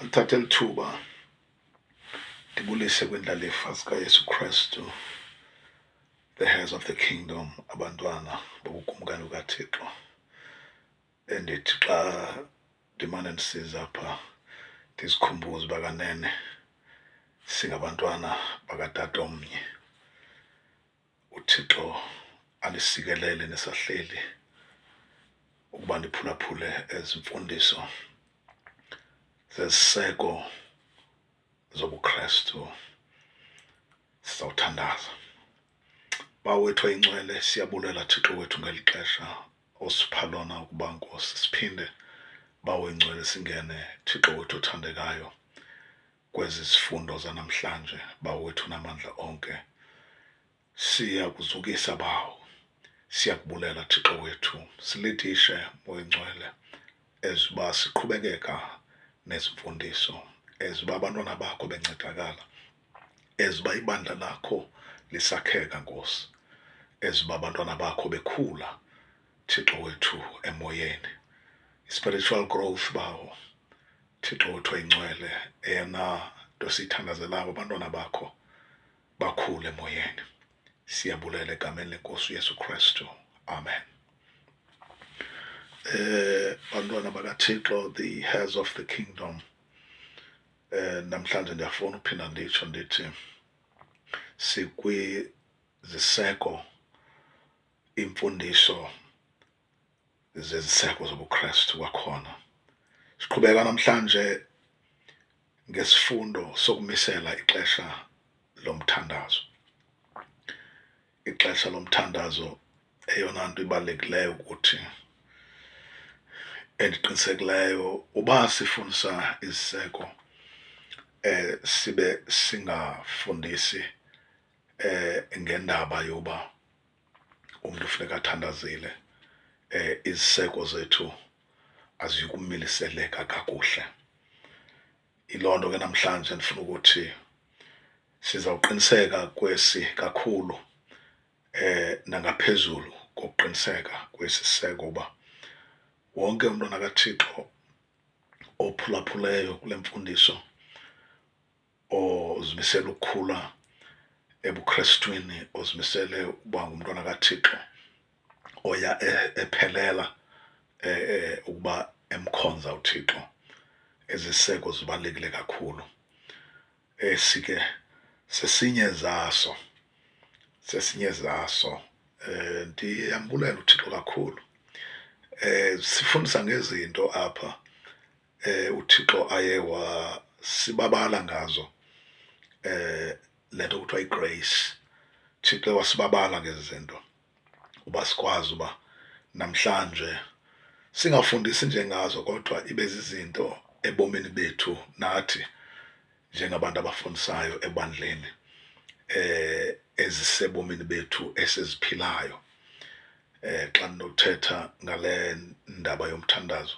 Ndithathe lithuba ndibulise kwindlalifa zikaYesu Kristu, the heirs of the kingdom, abantwana bobukumkani bukaThixo, endithi xa ndimane ndisiza apha ndizikhumbuze uba kanene singabantwana bakatata omnye. uthixo alisikelele nisahleli ukuba ndiphulaphule ezi mfundiso zeziseko zobukrestu sizawuthandaza bawo wethu oyincwele siyabulela thixo wethu ngeli xesha osipha lona ukuba nkosi siphinde bawo ingcwele singene thixo wethu othandekayo kwezi zifundo zanamhlanje, Bawo wethu namandla onke. Siya kuzukisa, Bawo. Siya kubulela, Thixo wethu. Silidishe, Moya Ngcwele, as uba siqhubekeka nezimfundiso, as uba abantwana bakho bencedakala, as uba ibandla lakho lisakheka, Nkosi, as uba abantwana bakho bekhula. Thixo wethu emoyeni spiritual growth bawo Thixo wethu oyingcwele eyona nto siyithandazelayo abantwana bakho bakhule emoyeni siyabulela egameni lenkosi uyesu kristu amen eh bantwana bakathixo the heirs of the kingdom eh namhlanje ndiyafuna uphinda nditsho ndithi sikwiziseko iimfundiso zeziseko zobuKristu kwakhona. Siqhubeka namhlanje ngesifundo sokumisela ixesha lomthandazo. Ixesha lomthandazo eyona nto ibalulekileyo ukuthi endiqinisekileyo uba sifundisa iziseko eh sibe singafundisi eh ngendaba yoba umntu funeka athandazile um iziseko zethu aziyukumiliseleka kakuhle yiloo nto ke namhlanje ndifuna ukuthi sizawuqiniseka kwesi kakhulu eh nangaphezulu kokuqiniseka kwesiseko uba wonke umntwana kaThixo ophulaphuleyo kule mfundiso ozimisele ukukhula ebuKrestwini, ozimisele ukuba ngumntwana kaThixo oya e-, ephelela e-, e-, ukuba emkhonza uThixo. Eziseko zibalulekile kakhulu. Esi ke sesinye zaso, sesinye zaso. Eh, ndiyambulela uThixo kakhulu. Eh, sifundisa ngezinto apha eh uThixo aye wasibabala ngazo eh lento kuthiwa igrace Thixo wasibabala ngezinto uba sikwazi uba namhlanje singafundisi nje ngazo kodwa ibe zizinto ebomini bethu nathi njengabantu abafundisayo ebandleni eh ezisebomini bethu esiziphilayo eh xa ndinothetha ngale ndaba yomthandazo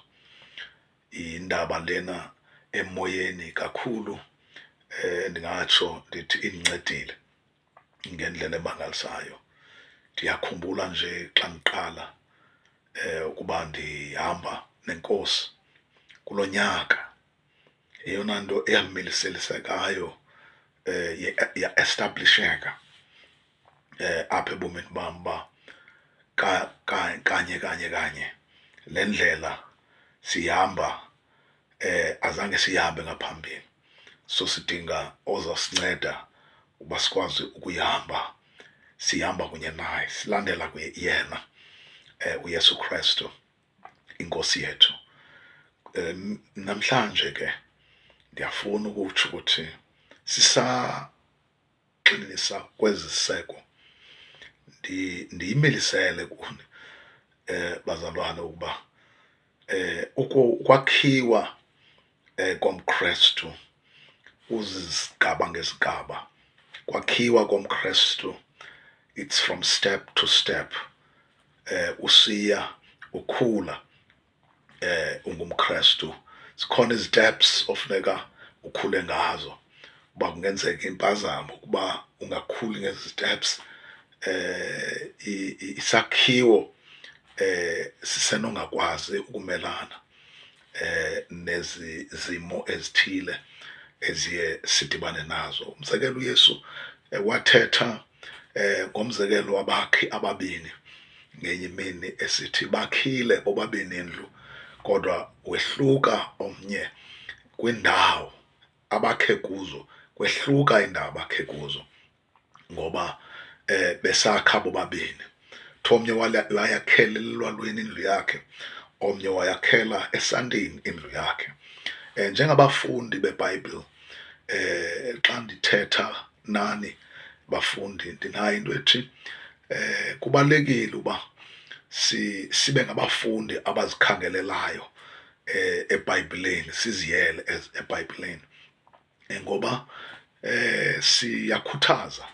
indaba lena emoyeni kakhulu eh ndingatsho ndithi indincedile ngendlela emangalisayo ndiyakhumbula nje xa ndiqala eh ukuba ndihamba nenkosi kulonyaka eyona nto eyamiliselisegayo um eh, ya-establisheka um eh, apha ebomini bam uba kanye kanye kanye le ndlela sihamba um azange siyihambe ngaphambili so sidinga ozasinceda uba sikwazi ukuyihamba sihamba kunye naye silandela yena um uyesu krestu inkosi yethu um namhlanje ke ndiyafuna ukutsho ukuthi sisaxinisa kwezi ziseko ndiyimelisele kuni um bazalwane ukuba um ukwakhiwa eh, komKristu uzisigaba ngesigaba kwakhiwa komKristu it's from step to step eh usiya ukhula eh ungumKristu sikhona iziteps ofuneka ukhule ngazo uba kungenzeka impazamo ukuba ungakhuli ngezi steps eh isakhiwo eh sisenongakwazi ukumelana eh nezi zimo ezithile eziye sidibane nazo umzekelo uYesu eh, wathetha eh ngomzekelo wabakhi ababini ngenye imini esithi bakhile bobabini indlu kodwa wehluka omnye kwindawo abakhe kuzo kwehluka indawo abakhe kuzo ngoba eh besakha bobabini thomnye wayakhela elwalweni indlu yakhe omnye wayakhela esantini indlu yakhe eh njengabafundi beBhayibhile eh xa ndithetha nani bafundi ndinayo into ethi eh kubalekile uba si sibe ngabafundi abazikhangelelayo eh eBhayibhileni siziyele eBhayibhileni eh, ngoba eh siyakhuthaza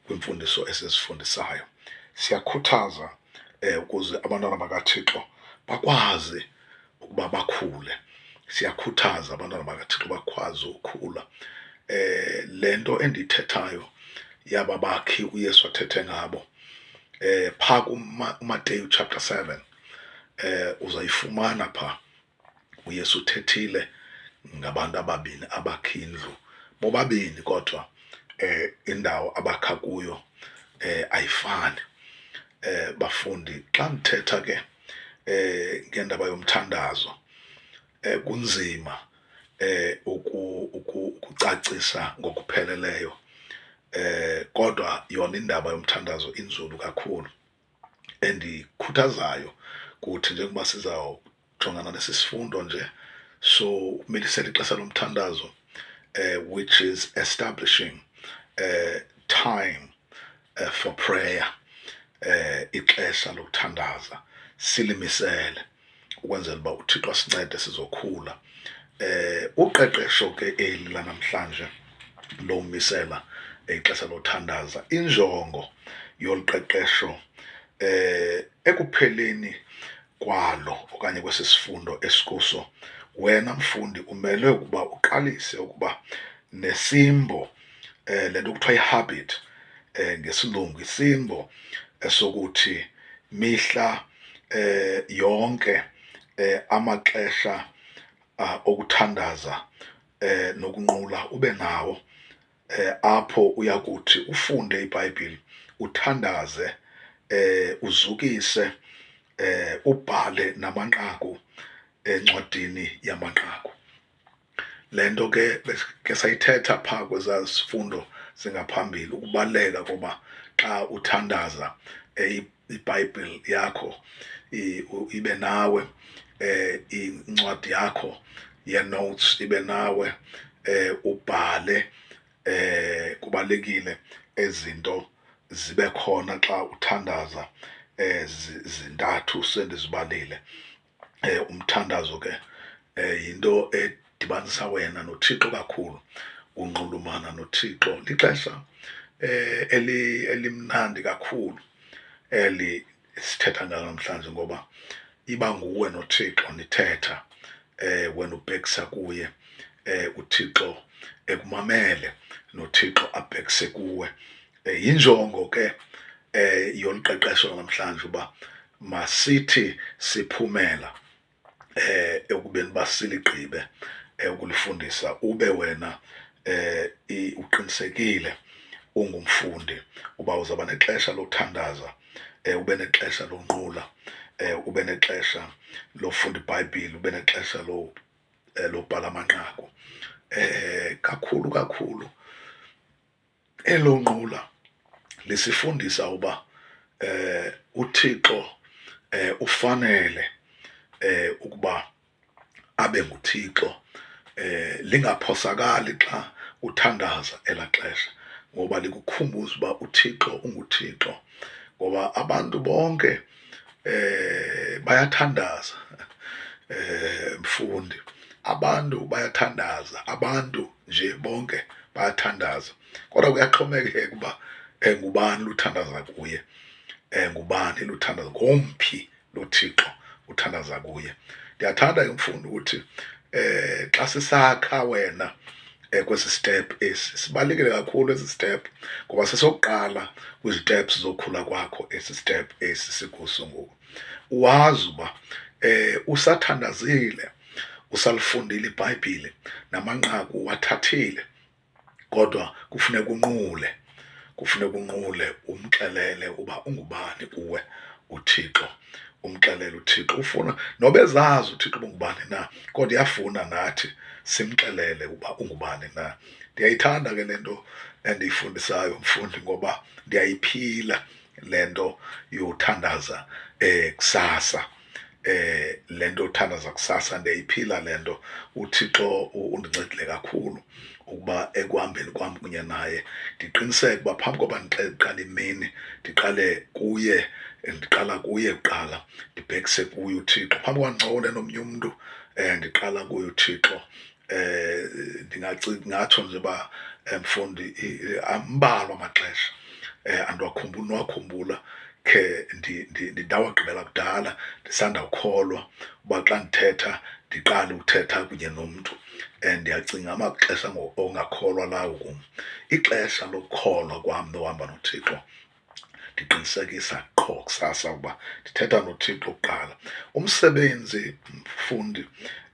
kwimfundiso esizifundisayo siyakhuthaza eh ukuze abantwana bakaThixo bakwazi ukuba bakhule siyakhuthaza abantwana bakaThixo bakwazi ukukhula eh lento endithethayo yaba bakhi uYesu athethe ngabo eh pha kuMateyu chapter 7 eh uzayifumana pha uYesu uthethile ngabantu ababini abakha indlu bobabini kodwa eh indawo abakha kuyo eh ayifani eh bafundi xa ndithetha ke eh ngendaba yomthandazo eh kunzima eh ukucacisa ngokupheleleyo eh kodwa yona indaba yomthandazo inzulu kakhulu endikhuthazayo kuthi njengoba sizawujongana nesi sifundo nje so umilisela ixesha lomthandazo uh, which is establishing uh, time uh, for prayer uh, ixesha lokuthandaza silimisele ukwenzela uba uthixo asincede sizokhula eh uqeqesho ke eli lanamhlanje lomisela ixesha lothandaza injongo yoluqeqesho eh ekupheleni kwalo okanye kwesi sifundo esikuso wena mfundi umelwe ukuba uqalise ukuba nesimbo eh lento kuthiwa ihabit eh ngesilungu isimbo esokuthi mihla eh yonke eh amaxesha ah, okuthandaza eh nokunqula ube nawo eh apho uyakuthi ufunde iBhayibheli uthandaze eh uzukise eh ubhale namanqaku encwadini yamanqaku le nto ke ke sayithetha phaa kwezaa zifundo zingaphambili ukubaluleka koba xa uthandaza um ibhayibhile yakho ibe nawe um incwadi yakho ye-notes ibe nawe um ubhale um kubalulekile ezinto zibe khona xa uthandaza um zintathu sendizibalile um umthandazo ke um yinto edibanisa wena nothixo kakhulu unxulumana nothixo lixesha um elimnandi kakhulu eli sithetha ngalo namhlanje ngoba iba nguwe nothixo nithetha eh wena ubhekisa kuye eh uThixo ekumamele noThixo abhekise kuwe Eh, yinjongo ke eh yolu qeqesho namhlanje uba masithi siphumela eh ekubeni basiligqibe eh, ukulifundisa ube wena eh uqinisekile ungumfundi uba uzaba nexesha lokuthandaza eh ube nexesha lonqula eh ube nexesha lofunda iBhayibhile ube nexesha lo eh, lobhala amanqaku eh kakhulu kakhulu Elo nqula lisifundisa uba eh uThixo eh ufanele eh ukuba abe nguThixo eh lingaphosakali xa uthandaza elaxesha ngoba likukhumbuza uba uThixo unguThixo ngoba abantu bonke eh bayathandaza eh mfundi abantu bayathandaza abantu nje bonke bayathandaza kodwa kuyaxhomekeka uba um ngubani luthandaza kuye um ngubani luthandaza ngomphi lothixo uthandaza kuye ndiyathanda ke mfundi ukuthi um xa sisakha wena um kwesi step esi sibalulekile kakhulu esi step ngoba sesokuqala kwiziteps zokhula kwakho esi step esi sikuso ngoku wazi uba eh usathandazile usalifundile ibhayibhile namanqaku wathathile kodwa kufuneka unqule kufuneka unqule umxelele uba ungubani kuwe uthixo umxelele uthixo ufuna noba ezazi uthixo ubungubani na kodwa iyafuna nathi simxelele uba ungubani na ndiyayithanda ke le nto endiyifundisayo mfundi ngoba ndiyayiphila le nto yothandaza eh kusasa eh le nto yothandaza kusasa ndiyayiphila le nto uthixo undincedile kakhulu ukuba ekuhambeni kwam kunye naye ndiqiniseke uba phambi koba ndiqale imini ndiqale kuye ndiqala kuye kuqala ndibhekise kuye uthixo phambi kwandincokole nomnye umntu um ndiqala kuye uthixo eh ndingatsho nje uba eh, mfundi ambalwa amaxesha eh andiwakhumbula niwakhumbula khe ndawagqibela kudala ndisanda kukholwa uba xa ndithetha ndiqale ukuthetha kunye nomntu and ndiyacinga amaxesha ongakholwa lawo kum ixesha lokukholwa kwam nohamba nothixo ndiqinisekisa qho kusasa ukuba ndithetha nothixo kuqala umsebenzi mfundi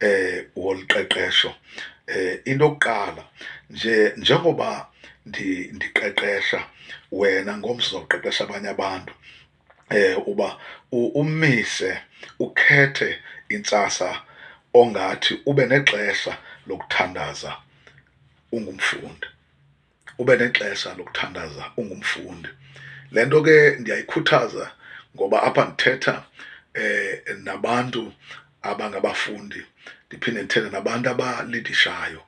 eh wolu qeqesho eh into yokuqala nje njengoba ndiqeqesha wena ngomso zoqeqesha abanye abantu eh uba umise ukhethe intsasa ongathi ube nexesha lokuthandaza ungumfundi ube nexesha lokuthandaza ungumfundi le nto ke ndiyayikhuthaza ngoba apha ndithetha um nabantu abangabafundi ndiphinde ndithethe nabantu abalidishayo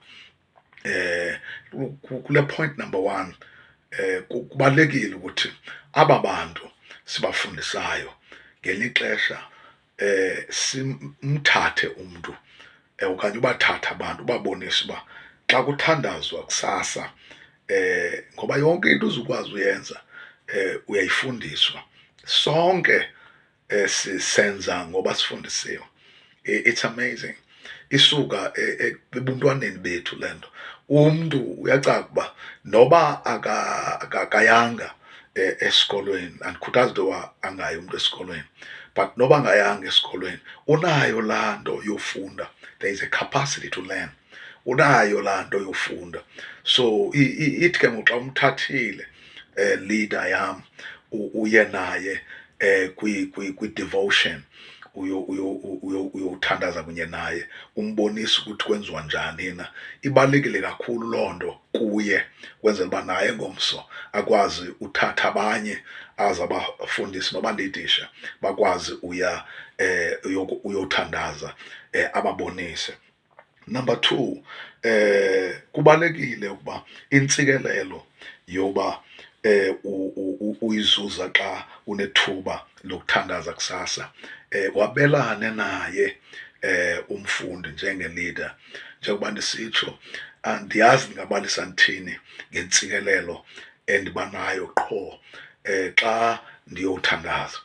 um kule point number one um kubalulekile ukuthi aba bantu sibafundisayo ngelixesha eh simthathe umntu eh, okanye ubathatha abantu ubabonise uba xa kuthandazwa kusasa eh ngoba yonke into uzukwazi uyenza eh uyayifundiswa sonke eh sisenza ngoba sifundisiwe it's amazing isuka e, e, ebuntwaneni bethu le nto umntu uyacaca uba noba akayanga e, esikolweni andikhuthazi into yoba angayi umntu esikolweni but noba angayanga esikolweni unayo laa nto yofunda there is a capacity to learn unayo laa nto yofunda so ithi ke ngoku xa umthathile eh, leader yam uye naye eh, kwi-devotion uyowuthandaza kunye naye umbonise ukuthi kwenziwa njani na ibalulekile kakhulu loo nto kuye kwenzela uba naye ngomso akwazi uthatha abanye aze abafundisi noba ndidisha bakwazi uya um uyothandaza um ababonise Number two, eh kubalekile ukuba intsikelelo yoba eh uyizuza xa unethuba lokuthandaza kusasa eh wabelane naye eh umfundi njenge leader njengoba ndisitsho andiyazi ndingabalisa ndithini ngentsikelelo endibanayo qho eh xa ndiyothandaza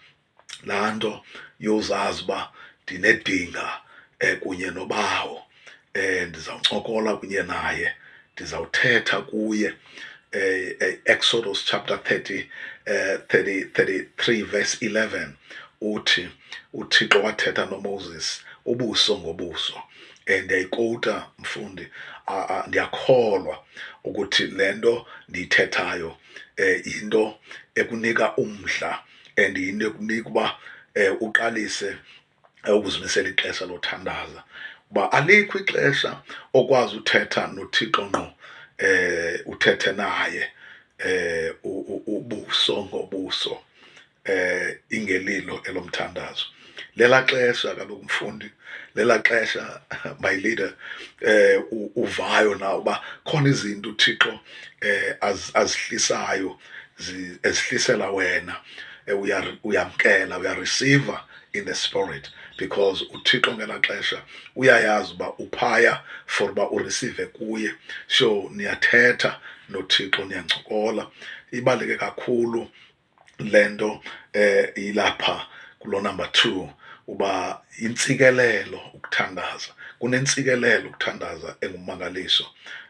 laa nto yozazi uba ndinedinga um kunye nobawo um ndizawuncokola kunye naye ndizawuthetha kuye Eh, eh, Exodus chapter 30, uh, 30, 33 verse 11 uthi uthixo wathetha nomoses ubuso ngobuso um ndiyayikowuta mfundi ndiyakholwa ukuthi le nto ndiyithethayo um yinto ekunika umdla and yinto ekunika uba um uqalise eh, ukuzimisela ixesha lothandaza uba alikho ixesha okwazi uthetha nothixo ngqo um uthethe naye um ubuso ngobuso um ingelilo elomthandazo lela xesha kaloku mfundi lela xesha my leader eh uvayo na uba khona izinto uthixo eh azihlisayo ezihlisela wena eh, uyamkela uyareceiva in the spirit because uthixo ngelaa xesha uyayazi uba uphaya for uba urisive kuye so niyathetha nothixo niyancokola ibaluleke kakhulu le nto eh, ilapha kulo number two uba intsikelelo ukuthandaza kunentsikelelo ukuthandaza engumangaliso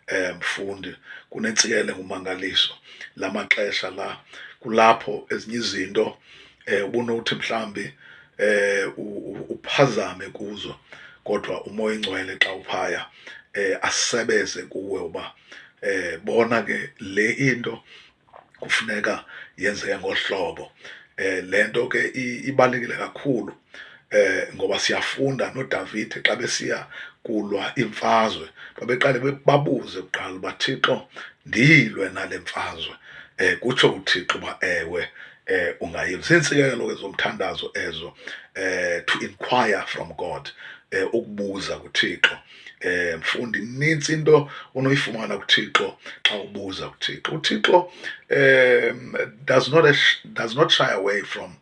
eh mfundi kunentsikelelo engumangaliso la maxesha la kulapho ezinye izinto eh ubunothi mhlambi eh uphazame kuzo kodwa umoya ingcwele xa uphaya eh asebeze kuwe uba eh bona ke le into kufuneka yenzeke ngohlobo eh le nto ke ibalulekile kakhulu eh ngoba siyafunda noDavid xa besiya kulwa imfazwe babeqale babuze kuqala uba Thixo ndiyilwe nale mfazwe eh kutsho uThixo uba ewe eh ungayilwe ziintsikelo ke zomthandazo ezo eh to inquire from God eh ukubuza kuThixo Eh mfundi inintsi into unoyifumana kuThixo xa ubuza kuThixo. UThixo eh does not does not shy away from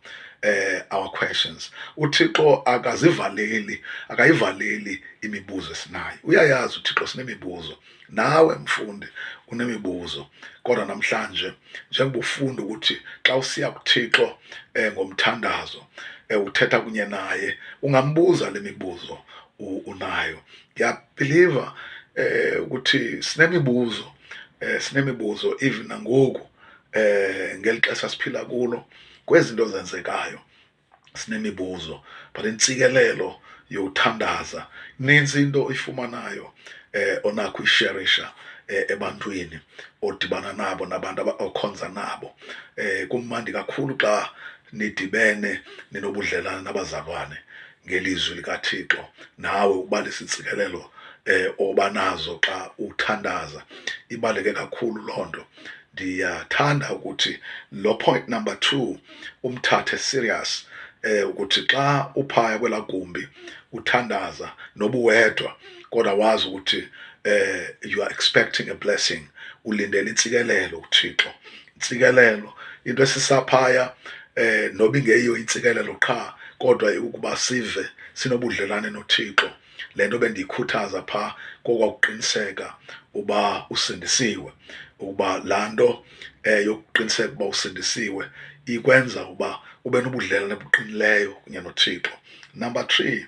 eh our questions uthixo akazivaleli akayivaleli imibuzo esinayo uyayazi uthixo sinemibuzo nawe mfundi unemibuzo kodwa namhlanje njengoba ufunda ukuthi xa usiya kuthixo eh ngomthandazo eh uthetha kunye naye ungambuza lemibuzo unayo ndiyabhiliva eh ukuthi sinemibuzo eh sinemibuzo even nangoku eh ngeli xesha siphila kulo kwezinto zenzekayo sinemibuzo but intsikelelo yothandaza ninzi into oyifumanayo eh onakho isherisha eh, ebantwini odibana nabo nabantu abakhonza nabo eh kumandi kakhulu xa nidibene ninobudlelane nabazalwane ngelizwi likaThixo nawe ubalisa iintsikelelo eh oba nazo xa uthandaza ibaleke kakhulu loo nto ndiyathanda ukuthi lo point number two umthathe serious eh ukuthi xa uphaya kwela gumbi uthandaza nobuwedwa kodwa wazi ukuthi eh you are expecting a blessing ulindele intsikelelo uThixo intsikelelo into esisaphaya eh noba ingeyiyo intsikelelo qha kodwa ukuba sive sinobudlelwane noThixo le nto bendiyikhuthaza pha kokwakuqiniseka uba usindisiwe ukuba laa nto um yokuqiniseka uba usindisiwe ikwenza uba ube nobudlelwane buqinileyo kunye nothixo number three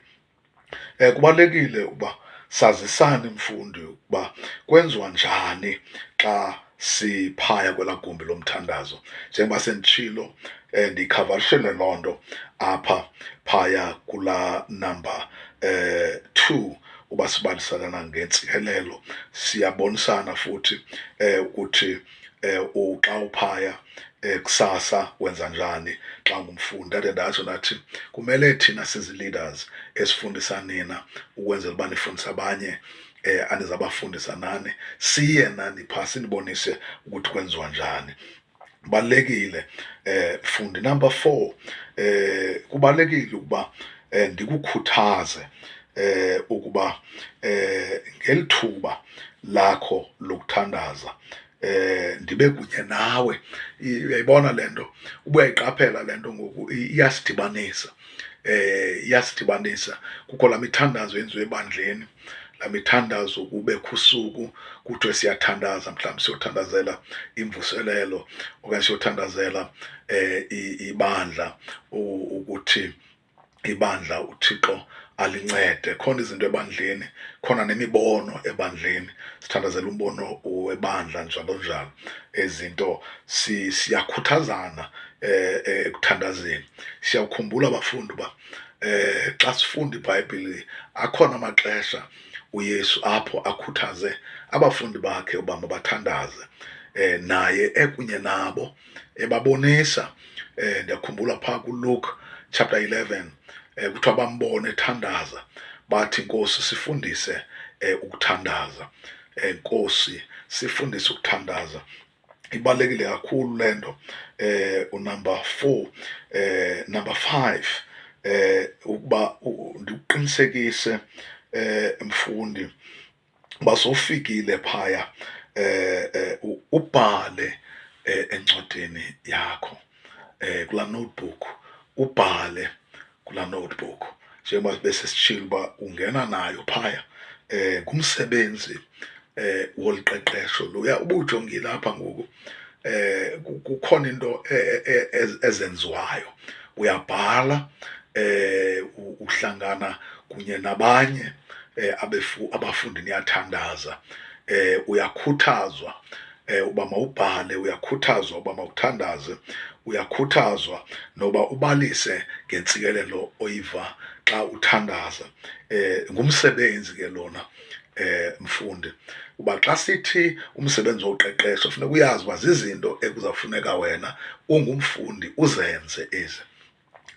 Um kubalulekile ukuba sazisane mfundi ukuba kwenziwa njani xa siphaya kwelaa gumbi lomthandazo njengoba senditshilo um ndiyikhavarishele loo nto apha phaya kulaa number um two uba sibaliselana ngentsikelelo siyabonisana futhi um ukuthi eh uxa uphaya eh, kusasa wenza njani xa ungumfundi ndade ndatsho ndathi kumele thina sizi-leaders esifundisa nina ukwenzela uba nifundise abanye eh anizabafundisa nani siye nani phaa sinibonise ukuthi kwenziwa njani kubalulekile eh fundi number four eh kubalulekile ukuba eh, ndikukhuthaze eh, ukuba eh, ngeli thuba lakho lokuthandaza eh ndibe kunye nawe uyayibona lento ubuyayiqaphela lento ngoku iyasidibanisa eh iyasidibanisa kukho la mithandazo yenziwe ebandleni la mithandazo kube khusuku kuthiwe siyathandaza mhlawumbi siyothandazela imvuselelo okanye siyothandazela eh ibandla ukuthi ibandla uthixo alincede khona izinto ebandleni khona nemibono ebandleni sithandazela umbono webandla njalo njalo ezinto siyakhuthazana eh, eh, ekuthandazeni siyawukhumbula abafundi uba eh xa sifunda ibhayibhile akhona amaxesha uyesu apho akhuthaze abafundi bakhe uba mabathandaze eh naye ekunye nabo ebabonisa eh ndiyakhumbula phaa kuLuke chapter 11 eh kuthiwa bambone ethandaza bathi Nkosi sifundise eh ukuthandaza eh Nkosi sifundise ukuthandaza ibalekile kakhulu lento eh unumber 4 eh number 5 eh ukuba ndiqinisekise eh mfundi uba sowufikile phaya eh, eh ubhale eh, encwadini yakho eh kula notebook ubhale kula notebook njengoba bese sishilo uba ungena nayo phaya eh ngumsebenzi eh woliqeqesho loya ubujongile apha ngoku eh kukhona into e, e, e, ezenziwayo uyabhala eh uhlangana kunye nabanye eh abefu abafundi niyathandaza eh uyakhuthazwa eh uba mawubhale uyakhuthazwa uba mawuthandaze uyakhuthazwa noba ubalise ngentsikelelo oyiva xa uthandaza eh ngumsebenzi ke lona eh mfundi uba xa sithi umsebenzi woqeqesho funeka uyazi uba zizinto ekuzawufuneka wena ungumfundi uzenze ezi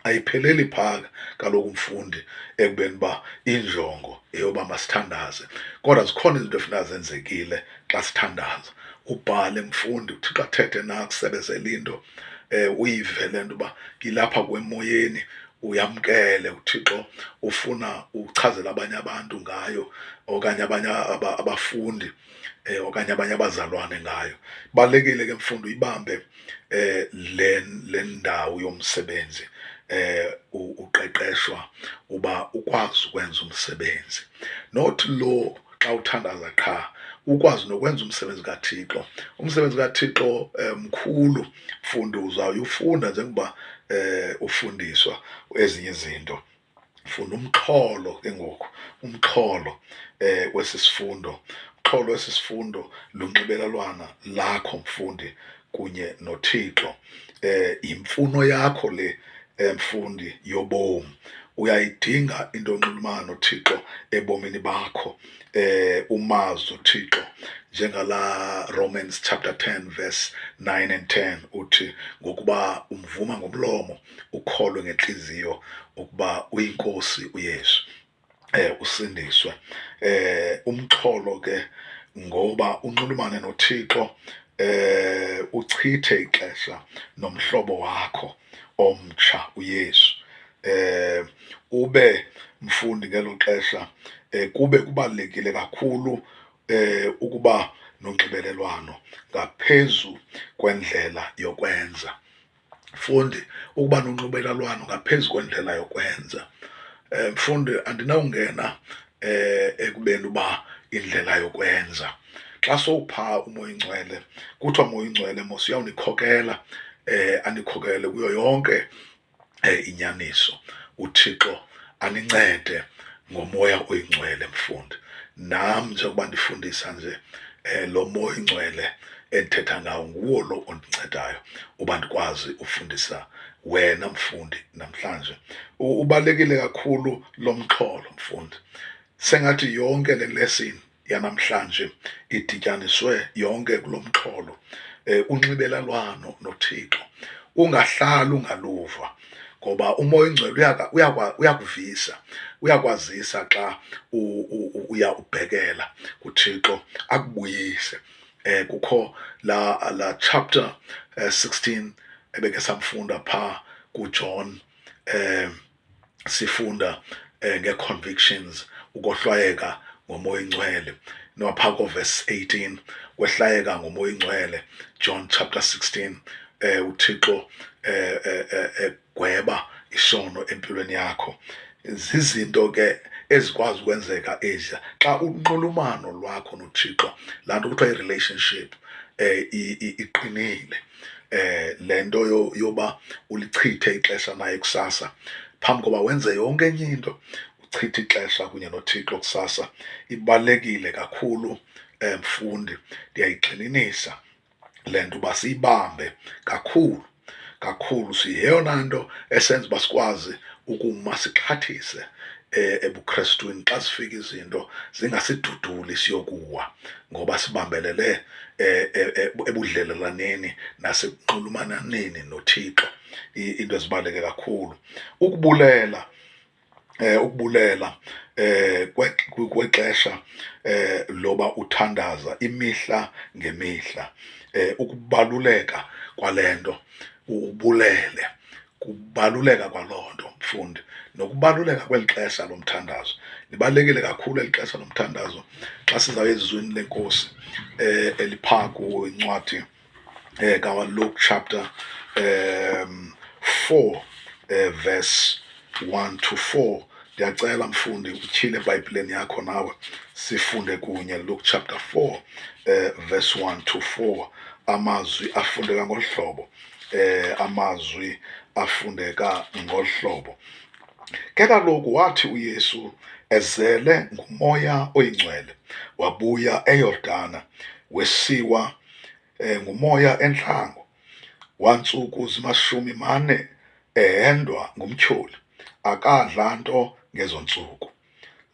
ayipheleli phaka kaloku umfundi ekubeni uba injongo eyoba masithandaze kodwa zikhona izinto efuna zenzekile xa sithandaza ubhale mfundi uthixo athethe nakusebenzela into um uyive le nto uba ngilapha kwemoyeni uyamkele uThixo ufuna uchazela abanye abantu ngayo okanye abanye abafundi eh, okanye abanye abazalwane ngayo. Balekile ke mfundo ibambe eh, le le ndawo yomsebenzi eh uqeqeshwa uba ukwazi ukwenza umsebenzi not lo xa uthandaza qha ukwazi nokwenza umsebenzi kaThixo umsebenzi kaThixo eh, mkhulu mfundo uzawuyufunda njengoba eh, ufundiswa ezinye izinto funda umxholo ke ngoku umxholo eh wesisifundo umxholo wesisifundo lunxibelelwana lakho mfundi kunye noThixo eh yimfuno yakho le emfundi eh, yobomi uyayidinga into onxulumana noThixo ebomini bakho eh umazi uThixo njengala Romans chapter 10 verse 9 and 10 uthi ngokuba umvuma ngomlomo ukholwe ngenhliziyo ukuba uyinkosi uYesu eh usindiswe eh umxholo ke ngoba unxulumane noThixo eh uchithe ixesha nomhlobo wakho omtsha uYesu eh ube mfundi ngelo xesha eh kube kubalekile kakhulu eh ukuba nonxibelelwano ngaphezu kwendlela yokwenza mfundi ukuba nonxubelalwano ngaphezu kwendlela yokwenza um mfundi andinawungena um ekubeni uba indlela yokwenza xa sowupha umoya ingcwele kuthiwa moya ingcwele mos uyawunikhokela um andikhokele kuyo yonke um inyaniso uthixo anincede ngomoya oyingcwele mfundi nam njengoba ndifundisa nje um lo moya oyingcwele endithetha ngawo nguwo lo ondincedayo uba ndikwazi ufundisa wena mfundi namhlanje ubalulekile kakhulu lo mxholo mfundi sengathi yonke le lesini yanamhlanje idityaniswe yonke kulo mxholo um unxibelelwano nothixo ungahlali ungaluva ngoba umoya oyingcwele uyakuvisa uyakwazisa xa uya ubhekela kuthixo akubuyise um kukho la la chapter um sixteen ebeke samfunda phaa kujohn um sifunda eh, nge-convictions ukohlwayeka ngomoya oyingcwele nowapha koverse 18 kwehlwayeka ngomoya oyingcwele john chapter 16 eh uthixo eh, eh, eh, eh gweba isono empilweni yakho zizinto ke ezikwazi ukwenzeka eziya xa unxulumano lwakho nothixo laa nto kuthiwa i-relationship um iqinile eh le nto yoba ulichithe ixesha naye kusasa phambi koba wenze yonke enye into uchithe ixesha kunye nothixo kusasa ibalulekile kakhulu eh, mfundi ndiyayigxininisa le nto uba siyibambe kakhulu kakhulu siyeyona nto esenza uba sikwazi ukuma sixhathise eh, ebuKristwini xa sifika izinto zingasiduduli siyokuwa ngoba sibambelele eh, eh, ebudlelelaneni nasekunxulumananeni noThixo into ezibaleke kakhulu ukubulela eh ukubulela eh kwexesha eh loba uthandaza imihla ngemihla eh ukubaluleka kwalento ubulele kubaluleka kwaloo nto mfundi nokubaluleka kweli xesha lomthandazo libalulekile kakhulu eli xesha lomthandazo xa sizawuya ezizweni lenkosi eh eliphaa kuwo incwadi eh kaluke chapter um 4 eh, verse 1 to 4 ndiyacela mfundi utyhile ebhayibhileni yakho nawe sifunde kunye luke chapter 4 eh, verse 1 to 4 amazwi afundeka ngolu hlobo eh amazwi afundeka ngohlobo ke kaloku wathi uYesu ezele ngumoya oyingcwele wabuya eYordana wesiwa eh, ngumoya entlango wantsuku zimashumi mane ehendwa ngumtyholi akadla nto ngezo ntsuku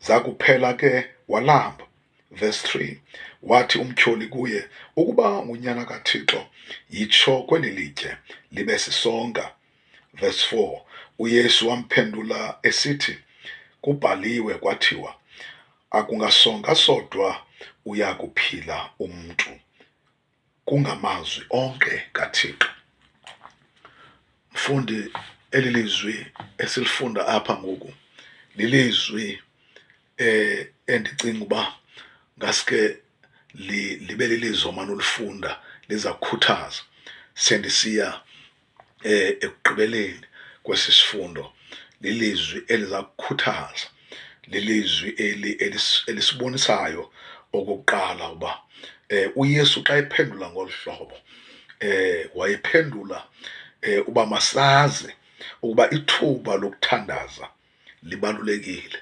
zakuphela ke walamba Verse 3 Wathi umtyholi kuye, Ukuba ngunyana kaThixo, yitsho kweli litye, libe sisonka. Verse 4 UYesu wamphendula esithi, Kubhaliwe kwathiwa, Akungasonka sodwa uya kuphila umntu. kungamazwi onke kaThixo. Mfundi, eli lizwi esilifunda apha ngoku lilizwi eh endicinga uba ngaske libe lilizwi omane ulifunda liza kukhuthaza sendisiya eh, ekugqibeleni kwesi sifundo lilizwi eliza kukhuthaza lilizwi eli elisibonisayo okokuqala uba eh, uYesu xa ephendula ngolu hlobo eh, wayephendula eh, uba masazi ukuba ithuba lokuthandaza libalulekile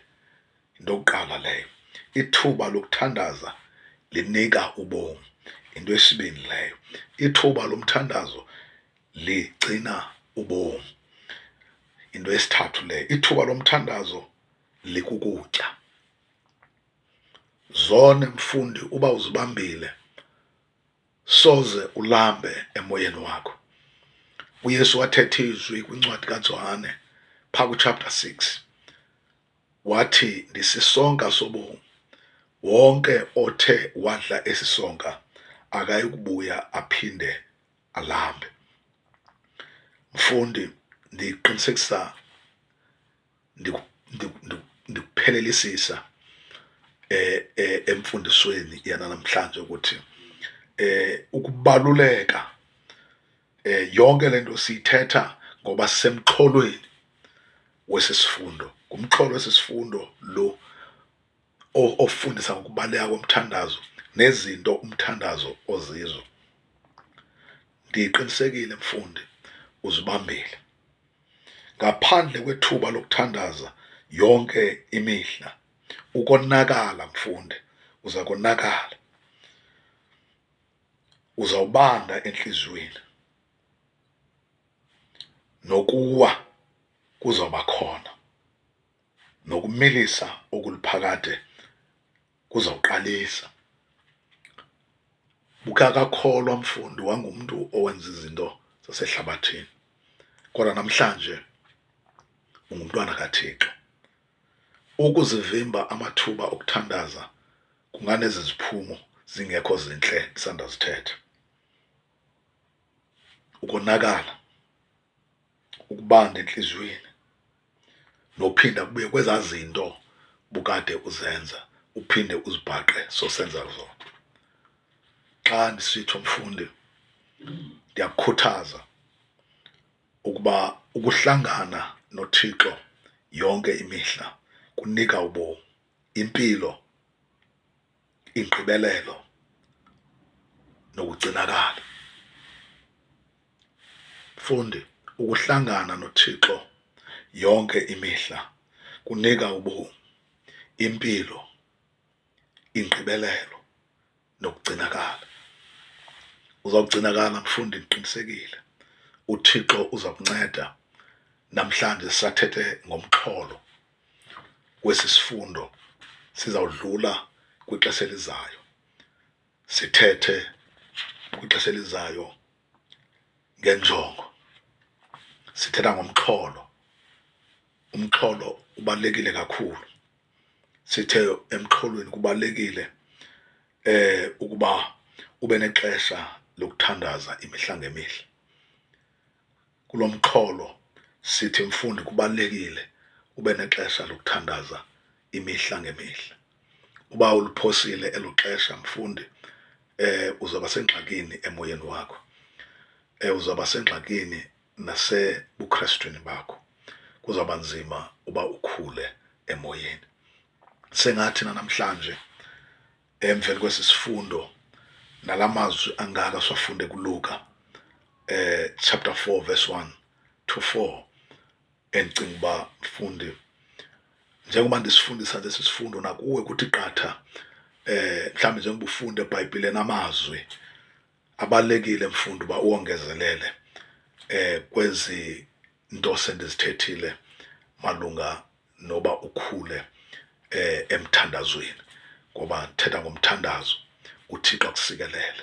Into yokuqala leyo, ithuba lokuthandaza linika ubomi. Into yesibini leyo, ithuba lomthandazo ligcina ubomi. Into yesithathu leyo, ithuba lomthandazo likukutya. Zone mfundi uba uzibambile soze ulambe emoyeni wakho. UYesu wathetha izwi kwincwadi kaJohane phaa kuchapter 6 wathi ndisisonka sobomi wonke othe wadla esi sonka akayi kubuya aphinde alambe mfundi ndiqinisekisa ndikuphelelisisa eh, eh emfundisweni yanamhlanje ukuthi eh ukubaluleka eh, yonke le nto siyithetha ngoba sisemxholweni wesi sifundo ngumxholo wesi sifundo lo ofundisa ngokubaleka komthandazo nezinto umthandazo ozizo ndiqinisekile mfundi uzibambile ngaphandle kwethuba lokuthandaza yonke imihla ukonakala mfundi uza konakala uzawubanda entliziyweni nokuwa kuzawuba khona nokumilisa okuliphakade kuzawuqalisa bukakakholwa mfundi wangumntu owenza izinto zasehlabathini kodwa namhlanje ungumntwana kathixo ukuzivimba amathuba okuthandaza kunganezi ziphumo zingekho zintle ndisandazithetha ukonakala ukubanda entliziyweni nophinda kubuye kwezaa zinto bukade uzenza uphinde uzibhaqe sosenza zona xa ndisitsho mfundi ndiyakukhuthaza ukuba ukuhlangana noThixo yonke imihla kunika ubomi impilo ingqibelelo nokugcinakala fundi ukuhlangana nothixo yonke imihla kunika ubomi impilo ingqibelelo nokugcinakala. Uzawugcinakala mfundi, ndiqinisekile. UThixo uza kunceda. Namhlanje sisathethe ngomxholo kwesi sifundo, sizawudlula kwixesha elizayo, sithethe kwixesha elizayo ngenjongo. Sithetha ngomxholo, umxholo ubalulekile kakhulu. sithe emxholweni kubalulekile eh ukuba ube nexesha lokuthandaza imihla ngemihla kulomxholo sithi mfundi kubalekile ube nexesha lokuthandaza imihla ngemihla uba uliphosile elo xesha mfundi eh uzaba sengxakini emoyeni wakho eh uzaba sengxakini nasebukhrestwini bakho kuzawuba nzima uba ukhule emoyeni sengathi nanamhlanje emveni kwesi sifundo nala mazwi angaka siwafunde kuluka eh chapter 4 verse 1 to 4 endicinga uba mfundi njengoba ndisifundisa lesi sifundo nakuwe kuthi qatha eh mhlawumbe njengoba ufunde ebhayibhileni amazwi abalekile mfundi uba uwongezelele eh kwezi nto sendizithethile malunga noba ukhule eh emthandazweni ngoba thetha ngomthandazo uThixo akusikelele